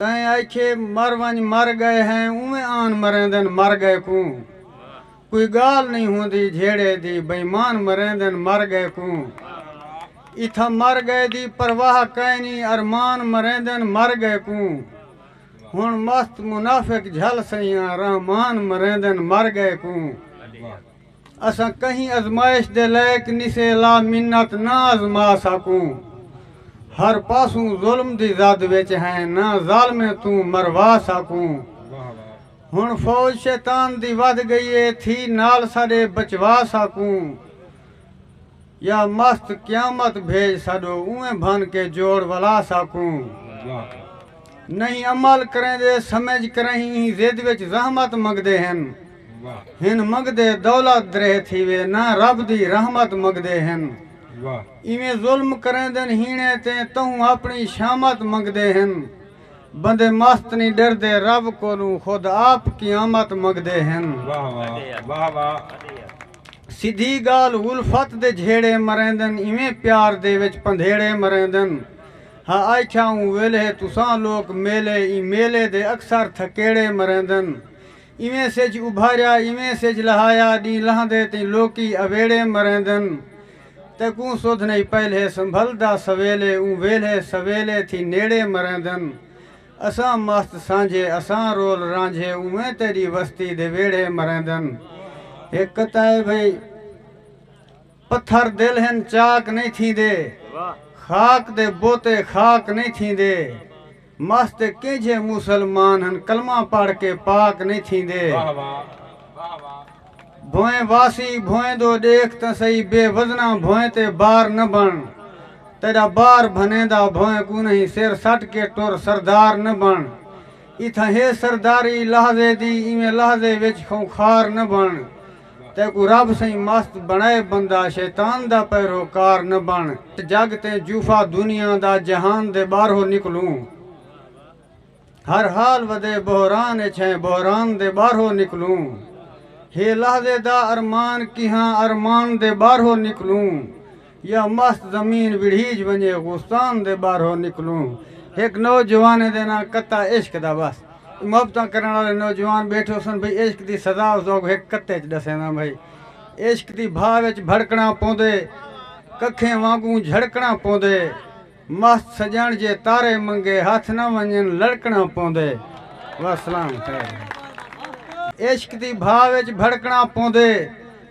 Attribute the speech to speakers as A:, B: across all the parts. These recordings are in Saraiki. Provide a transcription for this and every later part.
A: تیں آکھیے مر ونج مر گئے ہیں اونویں آن مریندن مر گئے کوں کوئی گالھ نئیں ہوندی جھیڑے دی بئیمان مریندن مر گئے کوں اتھاں مر گئے دی پرواہ کائنی ارمان مریندن مر گئے کوں ہن مست منافق جھل سئیاں رحمان مریندن مر گئے کوں اساں کہیں ازمائش دے لائق نی سے لا منت نہ ازما ساکوں ہر پاسوں ظلم دی زد وچ ہیں نہ ظالمیں توں مروا ساکوں ہن فوج شیطان دی ودھ گئی اے تھی نال ساڈے بچوا ساکوں یا مست قیامت بھیج ساڈو اونویں بھن کے جوڑ ولا ساکوں نہیں عمل کریندے سمجھ کرہیں ایں ضد وچ زحمت منگدے ہن ہن منگدے دولت دریہ تھیوے نہ رب دی رحمت منگدے ہن ایویں ظلم کریندن ہینے تیں تہوں اپنی شامت منگدے ہن۔ بندے مست نی ڈردے رب کولوں خود آپ قیامت منگدے ہن۔ واہ واہ واہ واہ۔ سدھی گالھ الفت دے جھیڑے مریندن ایویں پیار دے وچ پندھیڑے مریندن ہا آئکھیا اوں ویلھے تساں لوک میلے ایں میلے دے اکثر تھکیڑے مریندن ایویں سجھ ابھاریا ایویں سجھ لہایا ڈینہہ لہندے تیں لوکی اویڑے مریندن تیکوں سدھ نئیں پہلے سنبھلدا سویلے اوں ویلھے سویلے تھی نیڑے مریندن اساں مست سانجھے اساں رول رانجھے اونویں تیڈی وستی دے ویڑھے مریندن ہک کتا اے بھئی پتھر دل ہن چاک نئیں تھیندے خاک دے بوتے خاک نئیں تھیندے۔ مس تے کینجھے مسلمان ہن کلمہ پڑھ کے پاک نئیں تھیندے۔ بھوئیں واسی بھوئیں دو ڈیکھ تاں سہی بے وزناں بھوئیں تے بار نہ بݨ تیڈا بار بھنیندا بھوئیں کوں نہیں سر سٹ کے ٹر سردار نہ بݨ اتھاں ہے سرداری لحظے دی ایویں لحظے وچ خونخار نہ بݨ تیکوں رب سئیں مست بنڑائے بندہ شیطان دا پیرو کار نہ بن جگ تیں جوفا دنیا دا جہان دے باہرو نکلوں ہر حال ودے بحران اچ ہیں بحران دے باہرو نکلوں ہے لحظے دا ارمان کیہاں ارمان دے باہرو نکلوں یا مست زمین وڑھیج ونجے غوستان دے ٻاہرو نکلوں ہک نوجوانے دے ناں کتا عشق دا بس محبتاں کرݨ آلے نوجوان ٻیٹھے ہوسن بھئی عشق دی سزا اس اوکوں ہک کتے اچ ݙسینداں بھئی عشق دی بھا وچ بھڑکݨاں پوندے ککھیں وانگوں جھڑکݨاں پوندے مست سڄݨ جے تارے منگے ہتھ نہ ونڄن لڑکݨاں پوندے وسلام خیر عشق دی بھا وچ بھڑکݨاں پوندے۔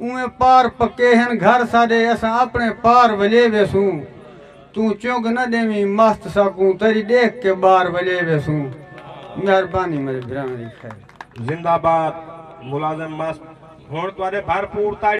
A: اوئیں پار پکے ہن گھر ساڈے اساں اپنے پار ولے ویسوں توں چنگ نہ ڈیویں مست ساکوں تیری ڈیکھ کے بار ولے ویسوں مہربانی میڈے بھراواں دی خیر۔
B: زندہ
A: باد
B: ملازم
A: مست
B: ہن تہاڈے
A: بھرپور
B: تاڑی۔